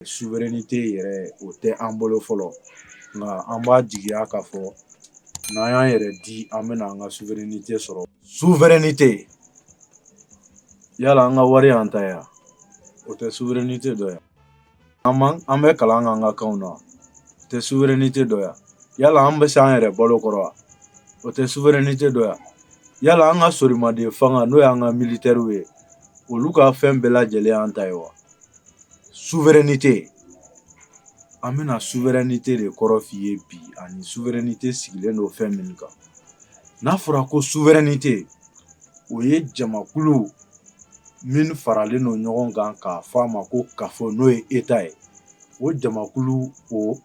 souveraineté yɛrɛ o tɛ an bolo fɔlɔ nka an b'a jigiya k'a fɔ n'an y'an yɛrɛ di an bɛna an ka souveraineté sɔrɔ souveraineté yala an ka wari an ta ye wa o tɛ souveraineté dɔ ye wa an an bɛ kalan an ka kan na tɛ souveraineté dɔ ye wa yala an bɛ se an yɛrɛ balo kɔrɔ wa o tɛ souveraineté dɔ ye wa yala an ka sorimaden fanga n'o y'an ka militaire ye olu ka fɛn bɛɛ lajɛlen an ta ye wa an bɛna souveraineté de kɔrɔ f'i ye bi ani souveraineté sigilen don fɛn min kan n'a fɔra ko souveraineté o ye jamakulu minnu faralen don ɲɔgɔn kan k'a fɔ a ma ko kafo n'o ye État ye o jamakulu o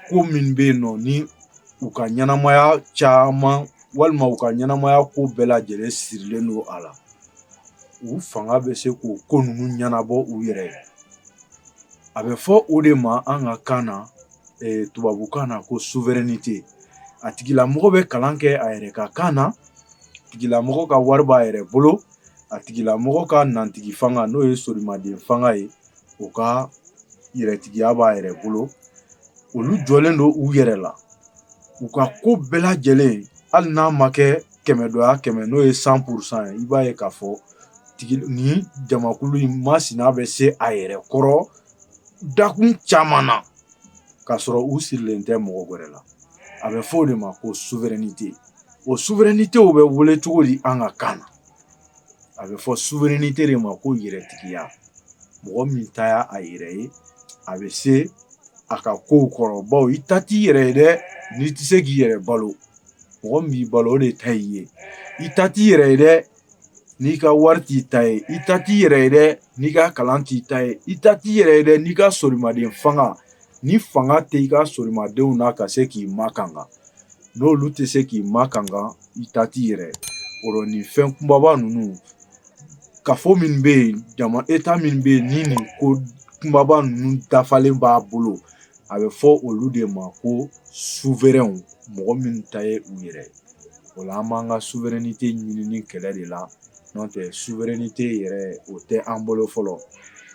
Ko min bɛ yen nɔ ni u ka ɲɛnamaya caman walima u ka ɲɛnamaya ko bɛɛ lajɛlen sirilen don a la u fanga bɛ se k'u ko ninnu ɲɛnabɔ u yɛrɛ ye a bɛ fɔ o de ma an ka kan na tubabu kan na ko souveraineté a tigilamɔgɔ bɛ kalan kɛ a yɛrɛ ka kan na tigilamɔgɔ ka wari b'a yɛrɛ bolo a tigilamɔgɔ ka nantigi fanga n'o ye sorimaden fanga ye o ka yɛrɛtigiya b'a yɛrɛ bolo olu jɔlen don u yɛrɛ la u ka ko bɛɛ lajɛlen hali n'a ma kɛ kɛmɛ dɔ kɛmɛ n'o ye cent pour cent ye i b'a ye k'a fɔ ni jamakulu in masina bɛ se a yɛrɛ kɔrɔ dakun caman na k'a sɔrɔ u sirilen tɛ mɔgɔ wɛrɛ la a bɛ fɔ o de ma ko souveraineté o souveraineté bɛ wele cogo di an ka kan na a bɛ fɔ souveraineté de ma ko yɛrɛtigiya mɔgɔ min ta y' a yɛrɛ ye a bɛ se a ka kow kɔrɔ bawo i ta t'i yɛrɛ ye dɛ n'i tɛ se k'i yɛrɛ balo mɔgɔ b'i balo o de ta y'i ye i ta t'i yɛrɛ ye dɛ n'i ka wari t'i ta ye i ta t'i yɛrɛ ye dɛ n'i ka kalan t'i ta ye i ta t'i yɛrɛ ye dɛ n'i ka sorimaden fanga ni fanga tɛ i ka sorimadenw na ka se k'i makankan n'olu tɛ se k'i makankan i ta t'i yɛrɛ o rɔ nin fɛn kunbaba ninnu kafo min bɛ yen jama État min bɛ yen ni nin ko kunbaba ninnu dafalen b'a bolo a bɛ fɔ olu de ma ko souverains mɔgɔ minnu ta ye u yɛrɛ o la an b'an ka souveraineté ɲinini kɛlɛ de la n'o tɛ souveraineté yɛrɛ o tɛ an bolo fɔlɔ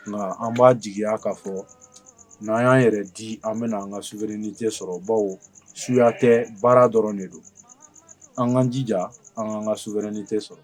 nka an b'a jigiya k'a fɔ n'an y'an yɛrɛ di an bɛna an ka souveraineté sɔrɔ bawo suya tɛ baara dɔrɔn de don an ka jija an ka an ka souveraineté sɔrɔ